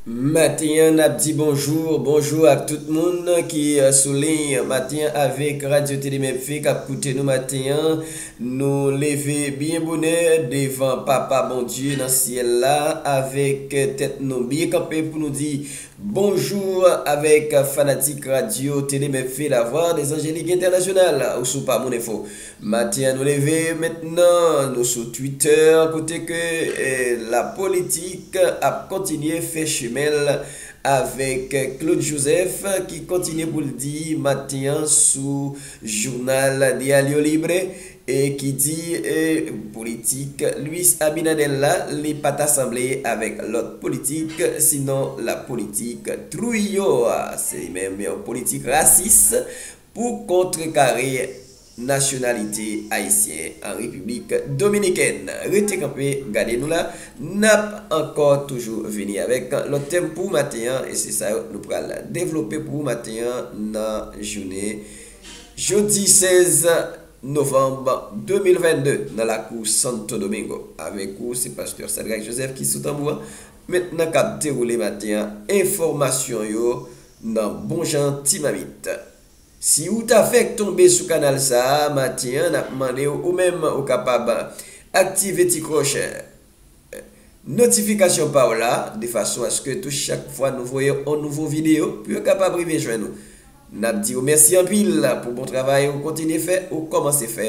Maten an nap di bonjour bonjour ak tout moun ki sou liy maten an avek radio tele mevy kap koute nou maten an nou leve byen bonè devan papa bondye nan syèl la avek tèt nou byen kanpe pou nou di bonjour avek fanatik radio tele mevy la vwa de zanjelik entènasyonal ou sou pa moun enfo Matin an nou leve mentnan nou sou Twitter kote ke la politik ap kontinye fè chemen l avèk Claude Joseph ki kontinye pou l di maten an sou jounal Diario Libre e ki di politik Luis Abinader la li pa ta sanble avèk lòt politik sinon la politik Trujillo a se li menm yon politik rasis pou kontrekare nasyonalite ayisyen an Repiblik Dominikèn. Rete kanpe gade nou la, n ap ankò toujou vini avèk lòt tèm pou maten an e se sa yo nou pral devlope pou ou maten an nan jounen jodi 16 novanm 2022 nan lakou Santo Domingo. Avèk ou se pastè Sadrac Joseph ki sou tanbou an, men nan k ap dewoule maten an enfòmasyon yo M nan bon jan ti mamit. Si ou ta fèk tonbe sou kanal sa a maten an nap mandew ou menm ou kapab aktive ti klòch notifikasyon paw la de fason aske tou chak fwa nou voye on nouvo video pou yo kapab rive jwenn ou nap diw mèsi anpil pou bon travay ou kontinye fè ou kòmanse fè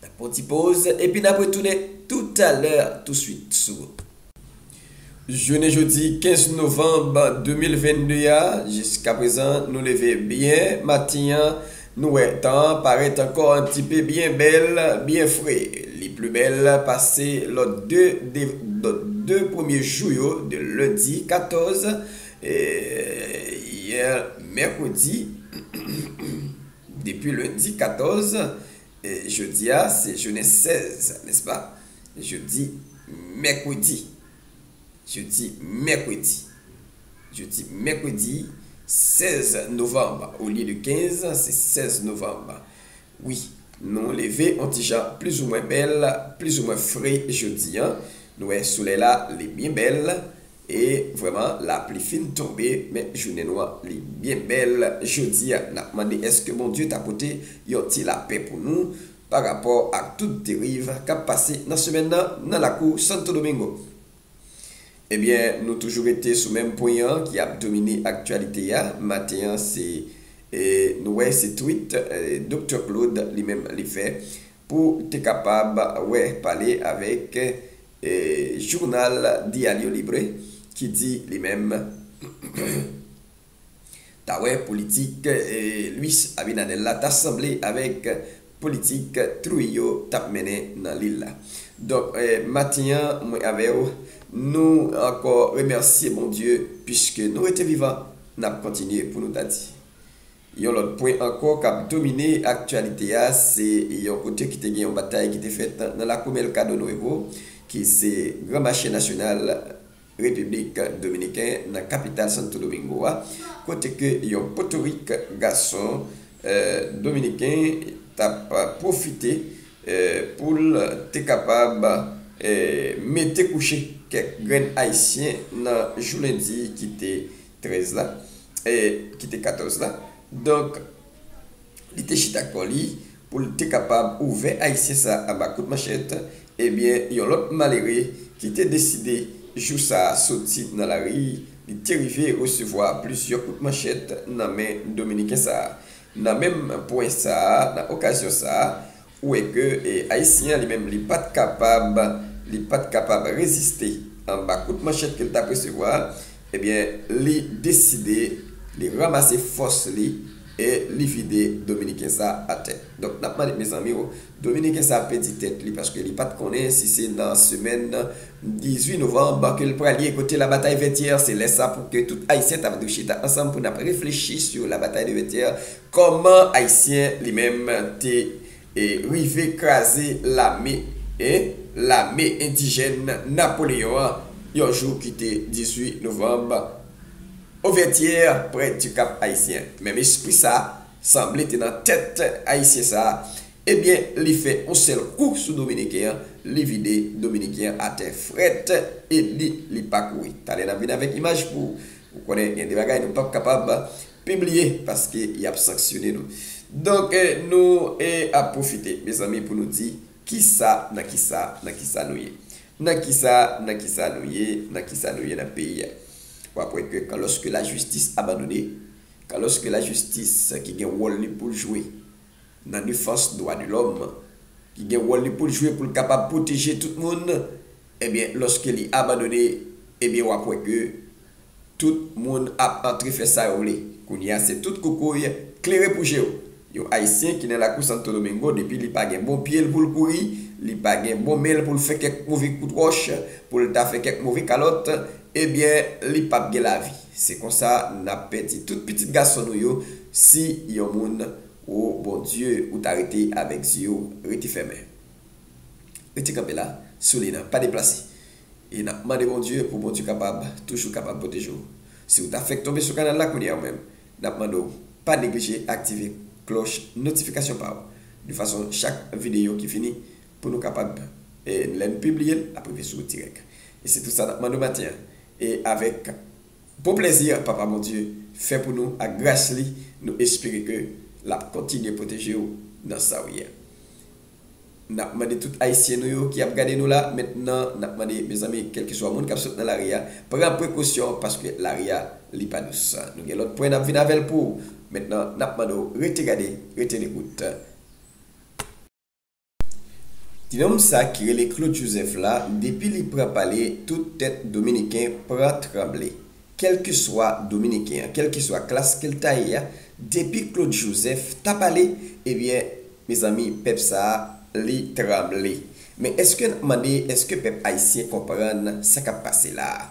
N ap pran ti poz epi n ap retounen toutalè touswit sou Jounen jodi 15 novanm 2022 a, jiskaprezan nou leve byen maten an, nou wè tan an parèt ankò an ti pe byen bèl, byen fre. Li pli bèl pase lòt 2 lòt 2 premye jou yo de lendi 14 e yè mèkredi. Depi lendi 14, jodi a se jounen 16, nèspa? Jodi mèkredi, jodi mèkredi, jodi mèkredi 16 novanm olye de 15, se 16 novanm. Wi, nou leve on ti jan plizoumwen bèl, plizoumwen fre jodi an. Nou wè solèy la, li byen bèl, E vrèman lapli fin tonbe men jounen nou an li byen bèl jodi a nap mande èske Bondye ta pote yon ti lapè pou nou pa rapò ak tout deriv kap pase nan semèn nan nan lakou Santo Domingo ebyen nou toujou rete sou menm pwen an ki ap domine aktyalite a maten an se nou wè se tweet Doktè Claude li menm li fè pou te kapab wè pale avèk jounal Diario Libre ki di li menm ta wè politik Luis Abinader la ta sanble avèk politik Trujillo t ap mennen nan lil la. Donk maten an mwen avè w nou ankò remèsye Bondye piske nou rete vivan n ap kontinye pou nou ta di. Yon lòt pwen ankò k ap domine aktyalite a, se yon kote ki te gen yon batay ki te fèt nan lakou Mercado Nuevo, ki se gran mache nasyonal Repiblik Dominiken nan kapital Santo Domingo a, kote ke yon potorik gason Dominiken t ap pwofite pou l te kapab mete kouche kèk grenn Ayisyen nan jou lendi ki te 13 la, e ki te 14 la. Donk, li te chita kò li pou l te kapab ouvè Ayisyen sa a anba kout manchèt, ebyen yon lòt malere ki te deside jou sa a soti nan lari, li te rive resevwa plizyè kout manchèt nan men Dominiken sa a. Nan menm pwen sa a, nan okazyon sa a, Ou wè ke Ayisyen an li menm li pat kapab, li pat kapab reziste anba kout manchèt ke li tap resevwa a, ebyen li deside li ranmase fòs li e li vide Dominiken sa atè. Donk nap mande mezanmi o, Dominiken sa pèdi tèt li paske li pat konnen si se nan semèn 18 novanb ke li pral ye kote labatay Vètyè, se lè sa pou ke tout Ayisyen tap dwe chita ansanm pou nap reflechi sou labatay de Vètyè. Kòman ayisyen li menm te rive kraze lame e lame endijèn Napoleon an yon jou ki te 18 novanb o vètyè prè di kap ayisyen menm espri sa sanble te nan tèt ayisyen sa ebyen li fè yon sèl kou sou dominiken an li vide dominiken an atè frèt e li li pa kouri talè nap vin avèk imaj pou ou konnen gen de bagay nou pap kapab Pibliye paske yap sanksyone nou. Donk nou ap pwofite mezanmi pou nou di kisa nan kisa nan kisa nou ye. Nan kisa nan kisa nou ye nan kisa nou ye nan peyi a. Wap wè ke kan lòske lajistis abandone, kan lòske lajistis ki gen wòl li poul jwe. nan defans dwa de lòm, ki gen wòl li pou l jwe pou l kapab pwoteje tout moun, ebyen lòske li abandone, ebyen w ap wè ke tout moun ap antre fè sa yo vle. Kounye a se tout koukouy klere pou je w. Yon Ayisyen ki nan lakou Santo Domingo depi li pa gen bon pye l pou l kouri, li pa gen bon men l pou l fè kèk move kout wòch, pou l ta fè kèk move kalòt, ebyen li p ap gen lavi. Se konsa nap pèdi tout pitit gason nou yo si yon moun wo Bondye ou ta rete avèk zyew rete fèmen rete kanpe la sou li nan pa deplase e nap mande Bondye pou Bondye kapab toujou kapab pwotejew siw ta fèk tonbe sou kanal la kounyea ou menm nap mandew pa neglije aktive klòch notifikasyon paw de fason chak videyo ki fini Pou nou kapab e lè n pibliye l ap rive sou ou dirèk. E se tout sa n ap mande w maten an. E avèk bon plèzi Papa Bondye fè pou nou ak gras li, nou espere ke l ap kontinye pwoteje w nan sa w ye a. N ap mande tout Ayisyen nou yo ki ap gade nou la mentnan, n ap mande mezanmi kèlkeswa moun k ap sot nan lari a, pran prekosyon paske lari a li pa dous. Nou gen lòt pwen n ap vin avè l pou ou. Mentnan n ap mande w rete gade, rete lekout. Tinonm sa ki rele Claude Joseph la depi li pran pale tout tèt dominiken pran tranble kèlkeswa dominiken an kèlkeswa klas kel ta ye a depi Claude Joseph ta pale ebyen mezanmi pèp sa li tranble men eske nap mande eske pèp ayisyen konprann sa kap pase la a.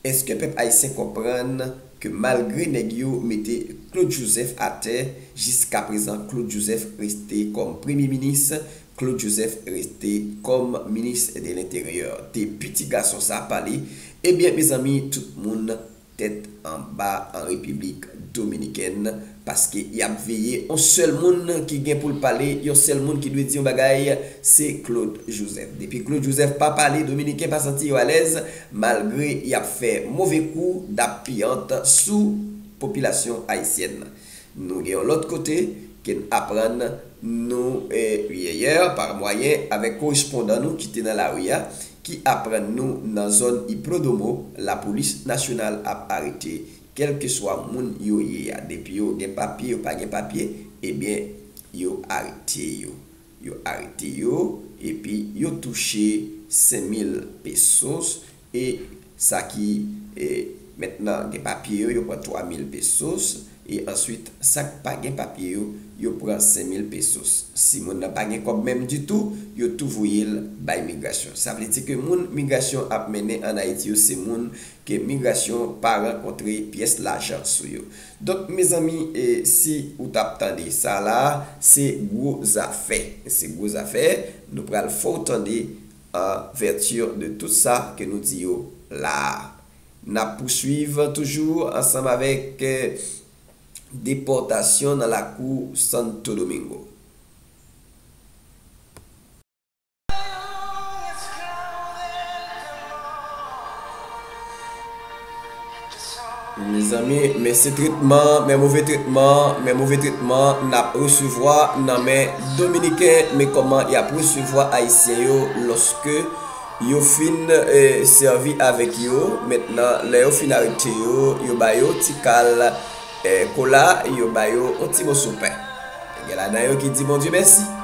Eske pèp ayisyen konprann ke malgre nèg yo mete Claude Joseph atè, jiskaprezan Claude Joseph reste kòm premye minis, Claude Joseph reste kòm minis de lenteryè. Depi ti gason sa pale, ebyen mezanmi tout moun tèt anba an Repiblik Dominikèn, Paske y ap veye on sèl moun ki gen pou l pale, yon sèl moun ki dwe di yon bagay, se Claude Joseph. Depi Claude Joseph pa pale, Dominiken pa santi yo alèz, malgre y ap fè move kou dap piyant sou popilasyon ayisyèn. Nou gen yon lòt kote ke n aprann nou yèyè par mwayen avèk korespondan nou ki te nan lari a, ki aprann nou nan zòn Iplodomo, lapolis nasyonal ap arete Kelkeswa moun yo ye a depi yo gen papye yo pa gen papye ebyen yo arete yo yo arete yo epi yo touche 5 mil pesos e sa ki e mèt nan gen papye yo yo pran 3 mil pesos e answit sak pa gen papye yo yo pran 5 mil pesos si moun nan pa gen kòb menm ditou yo tou voyel bay migrasyon sa vle di ke moun migrasyon ap mennen an ayiti yo se moun ke migrasyon pa rankontre pyès lajan sou yo. Donk mezanmi e si ou tap tande sa la a se gwo zafè, se gwo zafè nou pral fè w tande an vètir de tout sa ke nou di yo la a. Nap pouswiv toujou ansanm avèk depòtasyon nan lakou Santo Domingo. Mezanmi men se tretman, men move tretman, men move tretman nap resevwa nan men dominiken, men koman yap resevwa ayisyen yo loske yo fin sevi avek yo, mentnan lè yo fin arete yo, yo bayo ti kal kola, yo bayo yon ti moso pen, gen ladan yo ki di Bondye mèsi.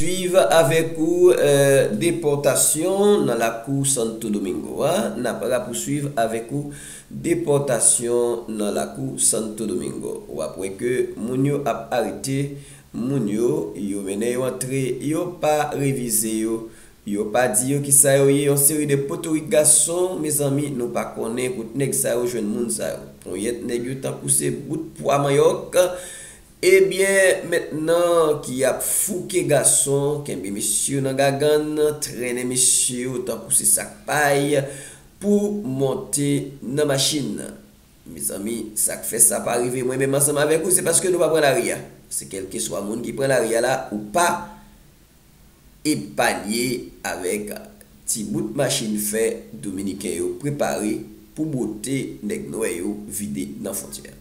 Swiv avèk ou depòtasyon nan lakou Santo Domingo a Nap rapousuiv avèk ou depòtasyon nan lakou Santo Domingo Wap wè ke moun yo ap arete moun yo yo mennen yo antre yo pa revize yo yo pa di yo kisa yo ye yon seri de potorik gason mezanmi nou pa konnen kot nèg sa yo jwenn moun sa yo ponyèt nèg yo tankou se bout pwa manyòk Ebyen met nan ki ap fouke gason kenbe mesye yo nan gagann trennen mesye yo tankou se sak pay pou monte nan machin mezanmi sak fè sa pa rive mwen menm ansanm avèk ou se paske nou pa pran lari a se kelkeswa moun ki pran lari a la ou pa epanye avèk ti bout machin fè Dominiken yo prepare pou bwote nèg nwè yo vide nan fontyè a.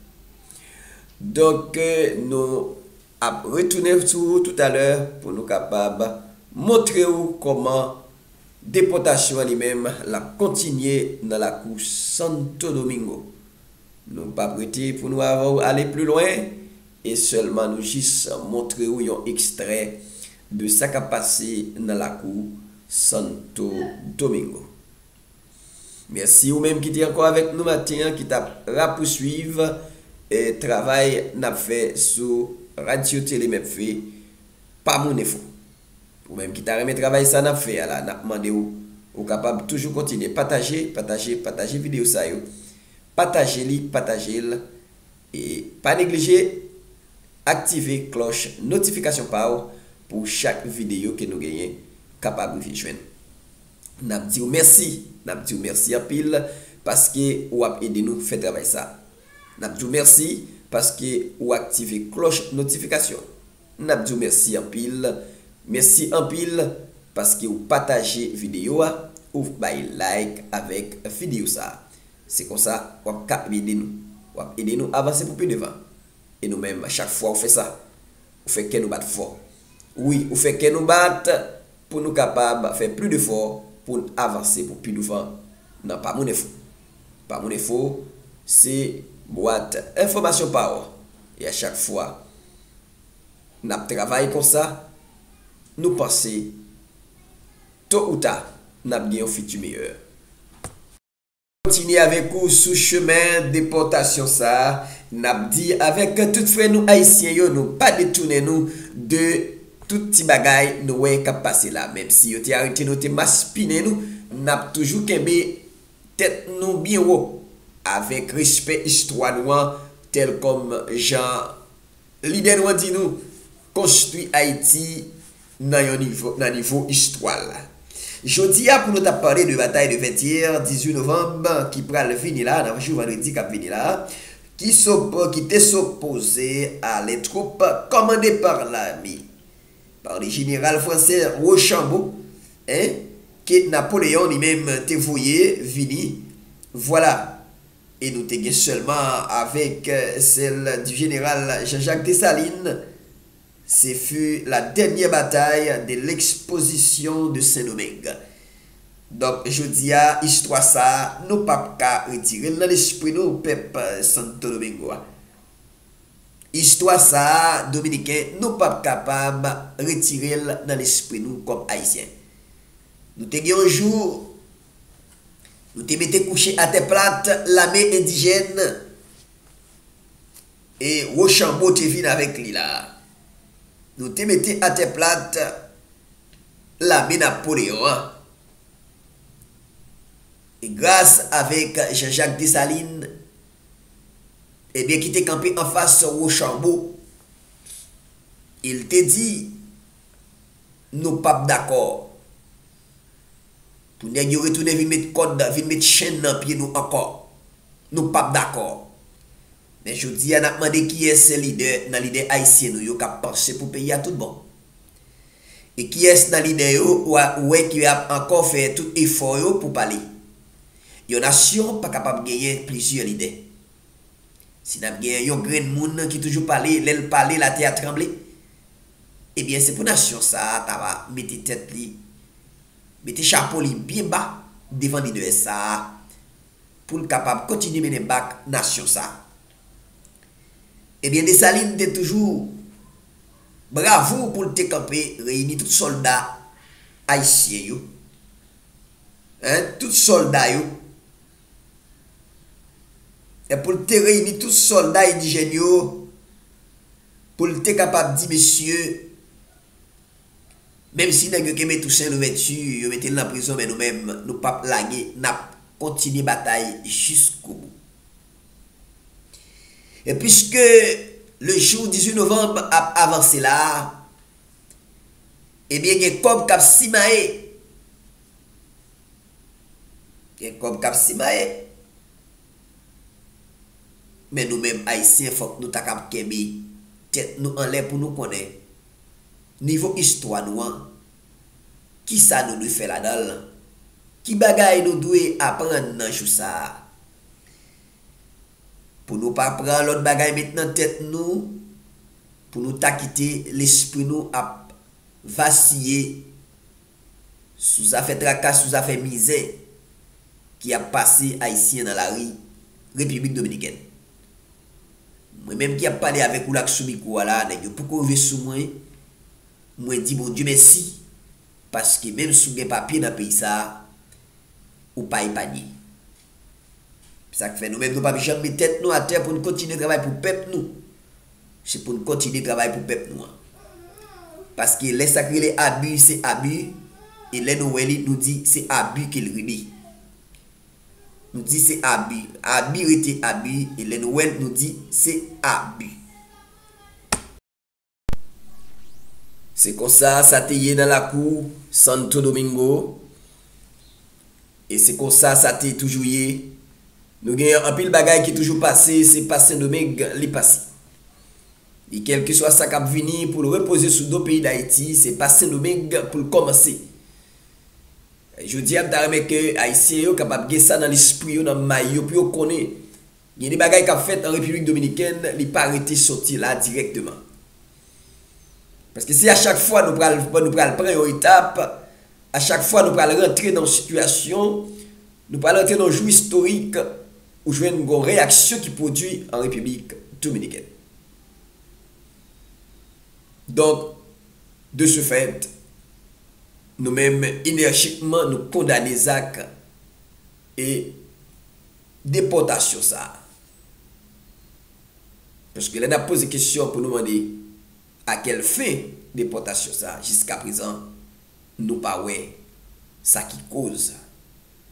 Donk nou ap retounen sou ou toutalè pou nou kapab montre ou kòman depòtasyon an li menm l ap kontinye nan lakou Santo Domingo. Nou p ap rete pou nou ale pli lwen E sèlman nou jis montre ou yon ekstrè de sa k ap pase nan lakou Santo Domingo. Mèsi ou menm ki te ankò avèk nou maten an ki t ap rapouswiv travay n ap fè sou Radyo Tele Mephi pa moun enfo. Ou menm ki ta renmen travay sa n ap fè a la n ap mande w ou kapab toujou kontinye pataje, pataje, pataje videyo sa yo, pataje li, pataje l E pa neglije aktive klòch notifikasyon pa w pou chak videyo ke nou genyen kapab rive jwenn ou. N ap di w mèsi, n ap di w mèsi anpil paske ou ap ede nou fè travay sa a. N ap di w mèsi paske ou aktive klòch notifikasyon. N ap di w mèsi anpil, mèsi anpil paske ou pataje videyo a, ou bay like avèk videyo sa a. Se konsa wap ka ede nou. Wap ede nou avanse pou pi devan. E nou menm chak fwa ou fè sa, ou fè kè nou bat fò. Wi, ou fè kè nou bat pou nou kapab fè pli de fò poun avanse pou pi douvan nan Pa Moun Enfo. Pa Moun Enfo se bwat enfòmasyon pa ou. E a chak fwa nap travay konsa, nou panse to ou ta nap gen yon fiti meyè. Kontinye avèk ou sou chemen depòtasyon sa a, n ap di avèk tout frè nou Ayisyen yo nou pa detounen nou de tout ti bagay nou wè k ap pase la. Menmsi yo te arete nou, te maspinen nou, n ap toujou kenbe tèt nou byen wo avèk respè istwa nou an tèlkòm jan Lidè nou an di nou, konstwi Ayiti nan yon nivo, nan nivo istwa l. Jodi a pou nou ta pale de batay de Vètyè, 18 novanm, ki pral vini la, nan jou vandredi kap vini la, ki so, ki te sopoze ale twoup kòmande par lame, par le jeneral fransè Rochambeau, en, ke Napoleon li menm te voye vini, vwala. E nou te gen sèlman avèk sèl di jeneral Jean-Jacques Dessalines, ce fut la dernière bataille de l'exposition de Saint-Domingue. Donk jodi a istwa sa a nou pa p ka retire l nan lespri nou pèp Santo Domingo a. Istwa sa a Dominiken nou pa p kapab retire l nan lespri nou kòm Ayisyen. Nou te gen yon jou Nou te mete kouche atè plat lame endijèn e Wochanbo te vin avèk li la. Nou te mete atè plat lame Napoleyon an. E gras avèk Janjak Desalin ebyen ki te kanpe anfas Wochanbo, e l te di, Nou pap dakò. Pou nèg yo retounen vin met kòd, vin met chenn nan pye nou ankò. Nou pap dakò. Men jodi a n ap mande kiyès se lidè nan lidè ayisyen nou yo k ap panse pou peyi a tout bon? E kiyès nan lidè yo ou wè ki ap ankò fè tout efò yo pou pale? Yon nasyon pa kapab genyen plizyè lidè. Si n ap gen yon grenn moun ki toujou pale, lè l pale latè a tranble, Ebyen se pou nasyon sa a ta va mete tèt li, mete chapo li byen ba devan lidè sa a pou l kapab kontinye mennen bak nasyon sa a. Ebyen Desalin te toujou bravou pou l te kanpe reyini tout sòlda ayisyen yo, en, tout sòlda yo, en, pou l te reyini tout sòlda endijèn yo, Pou l te kapab di mesye, Menm si nèg yo kenbe Tousen Louvèti, yo mete l nan prizon men nou menm, nou p ap lage, n ap kontinye batay jiskobou. E piske le jou 18 novanm ap avanse la a, ebyen gen kòb k ap simaye. Gen kòb k ap simaye. Men nou menm Ayisyen fòk nou ta kab kenbe tèt nou anlè pou nou konnen nivo istwa nou an, ki sa nou dwe fè ladan l, ki bagay nou dwe aprann nan jou sa a. Pou nou pa pran lòt bagay met nan tèt nou, pou nou ta kite lespri nou ap vasiye sou zafè traka, sou zafè mizè ki ap pase Ayisyen nan lari Repiblik Dominikèn. Mwen menm ki ap pale avèk ou la k sou mikwo a la, nèg yo poko rive sou mwen, mwen di Bondye mèsi paske menm si w gen papye nan peyi sa a, ou pa epanye. Se sa k fè nou menm nou pap janm met tèt nou atè pou n kontinye travay pou pèp nou. Se pou n kontinye travay pou pèp nou an. Paske lè sa k rele abi se abi, e lè nou wè li nou di se abi ke l rele. Nou di se abi. Abi rete abi e lè nou wè l nou di se abi. Se konsa sa te ye nan lakou Santo Domingo e se konsa sa te toujou ye. Nou gen anpil bagay ki toujou pase, se pa Sendomeng li pase. E kèlkeswa sa k ap vini pou l repoze sou do peyi Dayiti, se pa Sendomeng pou l kòmanse. Jodi a, m ta renmen ke Ayisyen yo kapab gen sa nan lespri yo, nan may yo, pou yo konnen Gen de bagay kap fèt an Repiblik Dominikèn li pa rete sòti la dirèkteman. Paske si a chak fwa nou pral nou pral pran yon etap, a chak fwa nou pral rantre nan yon sitiyasyon, nou pral rantre nan yon jou istorik, ou jwenn gon reyaksyon ki pwodui an Repiblik Dominikèn. Donk, de se fèt, nou menm enèjikman nou kondane zak e. depòtasyon sa a. Paske lè n ap poze kesyon pou nou mande a kèl fen depòtasyon sa a, jiskaprezan nou pa wè sa ki koz.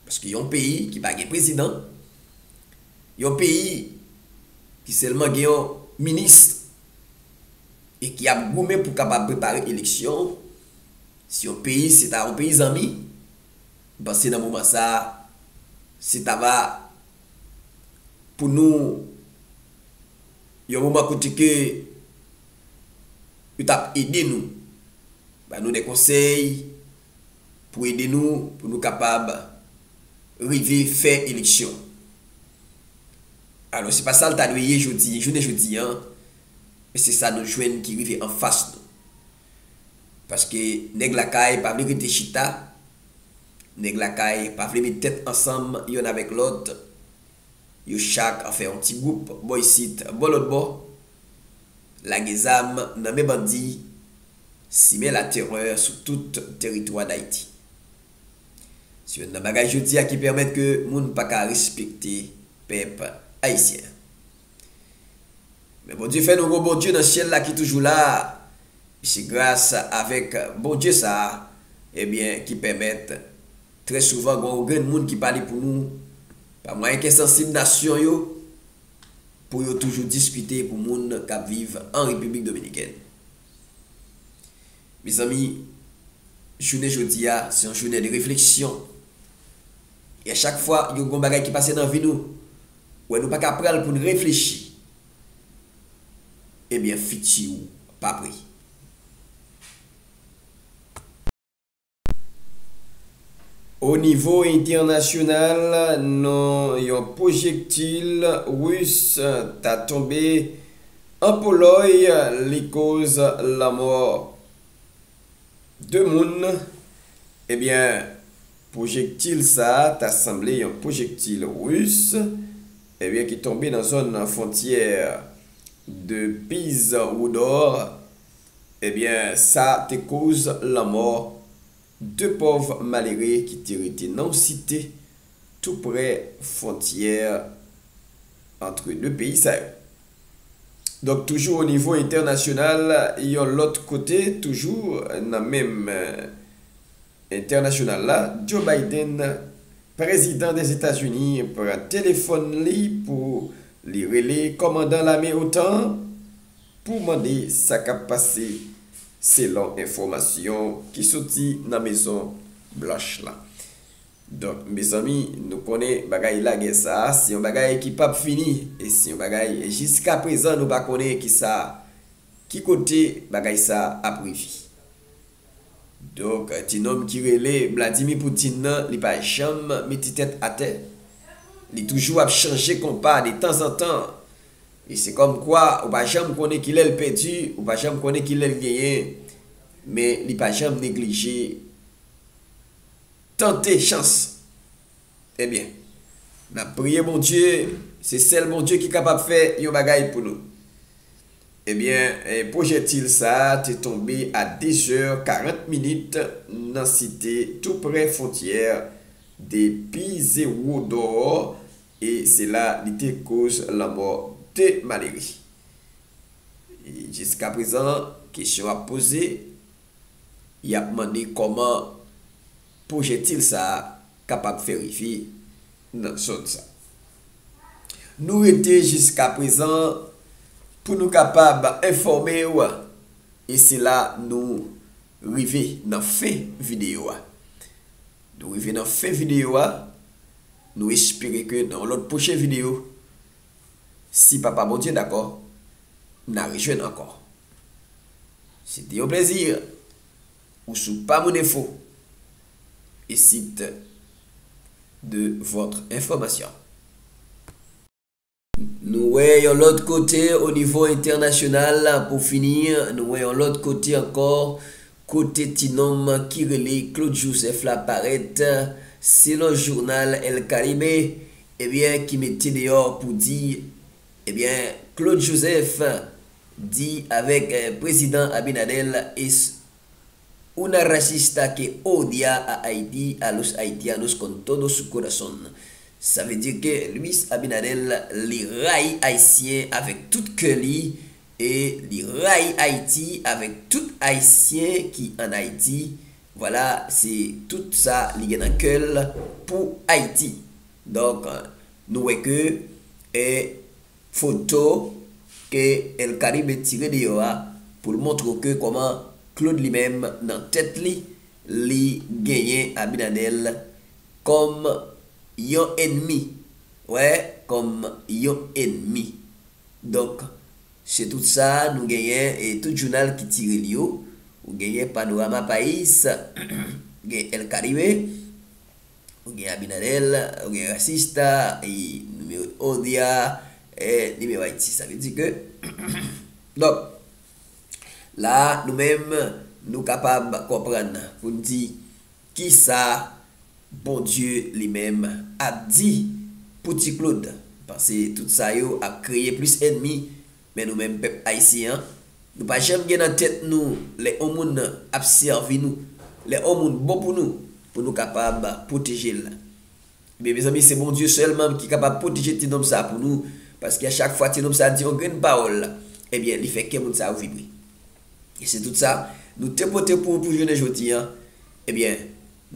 Paske yon peyi ki pa gen prezidan, yon peyi ki sèlman gen yon minis e ki ap goumen pou kapab prepare eleksyon, si yon peyi se ta yon peyi zanmi, M panse nan moman sa a, se ta va pou nou yon moman kote ke yo t ap ede nou, ba nou de konsèy pou ede nou pou nou kapab rive fè eleksyon. Alò se pa sa l ta dwe ye jodi, jounen jodi an, men se sa nou jwenn ki rive anfas nou. Paske nèg lakay pa vle rete chita, nèg lakay pa vle met tèt ansanm yonn avèk lòt, yo chak fè yon ti gwoup bò isit bò lòtbò, lage zam nan men bandi, simen latèrè sou tout teritwa Dayiti. Se yonn nan bagay jodi a ki pèmèt ke moun pa ka respekte pèp ayisyen. Men Bondye fè nou gon Bondye nan syèl la ki toujou la a, e se gras avèk Bondye sa a, ebyen, ki pèmèt trè souvan gon yon grenn moun ki pale pou nou pa mwayen kè sansib nasyon yo pou yo toujou diskite pou moun k ap viv an Repiblik Dominikèn. Mezanmi, jounen jodi a, se yon jounen de refleksyon e a chak fwa yo gon bagay ki pase nan vi nou, Wè nou paka pranl poun reflechi ebyen fiti ou pa pre. O nivo entènasyonal non yon pwojektil Ris ta tonbe an Polòy li koz lanmò. 2 moun, ebyen pwojektil sa ta sanble yon pwojektil Ris, ebyen ki tonbe nan zòn fontyè 2 piz Woudor, ebyen sa te koz lanmò 2 pòv malere ki te rete nan yon site tou prè fontyè antre 2 peyi sa yo. Donk toujou o nivo entènasyonal yon lòt kote toujou nan menm entènasyonal la Joe Biden prezidan Dèzetazini pran telefòn li pou li rele kòmandan lame otan an pou mande sa k ap pase selon enfòmasyon ki soti nan mezon blanch la. Donk mezanmi nou konnen bagay lagè sa a se yon bagay ki pap fini e se yon bagay jiska prezan nou pa konnen ki sa ki kote bagay sa a ap rive. Donk ti nonm ki rele Vladimir Poutine nan li pa janm mete tèt atè, li toujou ap chanje konpa de tanzantan e se kòm kwa ou pa janm konnen ki lè l pèdi, ou pa janm konnen ki lè l genyen men li pa janm neglije. Tante chans ebyen nap priye Bondye se sèl Bondye ki kapab fè yon bagay pou nou ebyen pwojètil sa te tonbe a 2 zè 40 minit nan site tou prè fontyè de pizewodò e se la li te koz lanmò 2 malere jiska prezan kesyon ap poze. Yap mande kòman pwojektil sa a kapab fè rive nan zòn sa. Nou rete jiskaprezan pou nou kapab enfòme w e se la nou rive nan fen videyo a. Nou rive nan fen videyo a, nou espere ke nan yon lòt pwochen videyo Si Papa Bondye dakò, n'a rejwenn ankò. Se te yon plezi! Ou sou Pa Moun Enfo, le site de votre information. Nou wè yon lòt kote o nivo entènasyonal, pou fini, nou wè yon lòt kote ankò, kote ti nonm ki rele Claude Joseph la parèt, selon jounal El Caribe, Ebyen ki mete deyò pou di ebyen Claude Joseph di avek prezidan Abinadel es una racista que odia a Haiti a los Haitianos con todo su corazon sa vle di ke Luis Abinadel li rayi ayisyen avek tout kè li e li rayi Haiti avek tout ayisyen ki an Haiti Vwala se tout sa li gen nan kè l pou Ayiti. Donk nou wè ke e foto ke El Caribe tire deyò a pou l montre w ke kòman Claude li menm nan tèt li, li genyen Abinader kòm yon enmi, wè kòm yon enmi. Donk. Se tout sa nou genyen e tout jounal ki tire li yo. Ou genyen Panorama Pais, ou gen El Caribe, ou gen Abinader, ou gen Racista y Numero Un dia e Numero Haiti. Sa vle di ke donk la a nou menm nou kapab konprann pou n di. Ki sa Bondye li menm ap di pou ti Claude? Panse tout sa yo ap kreye plis enmi men nou menm pèp ayisyen an nou pa janm gen nan tèt nou lè on moun ap sèvi nou lè on moun bon pou nou pou nou kapab pwoteje l ebyen mezanmi se Bondye sèlmam ki kapab pwoteje ti nonm sa pou nou paske a chak fwa ti nonm sa di on grenn pawòl ebyen li fè kè moun sa yo vibre. E se tout sa nou te pote pou ou pou jounen jodi an, ebyen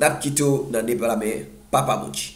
nap kite w nan de bra men Papa Mochi.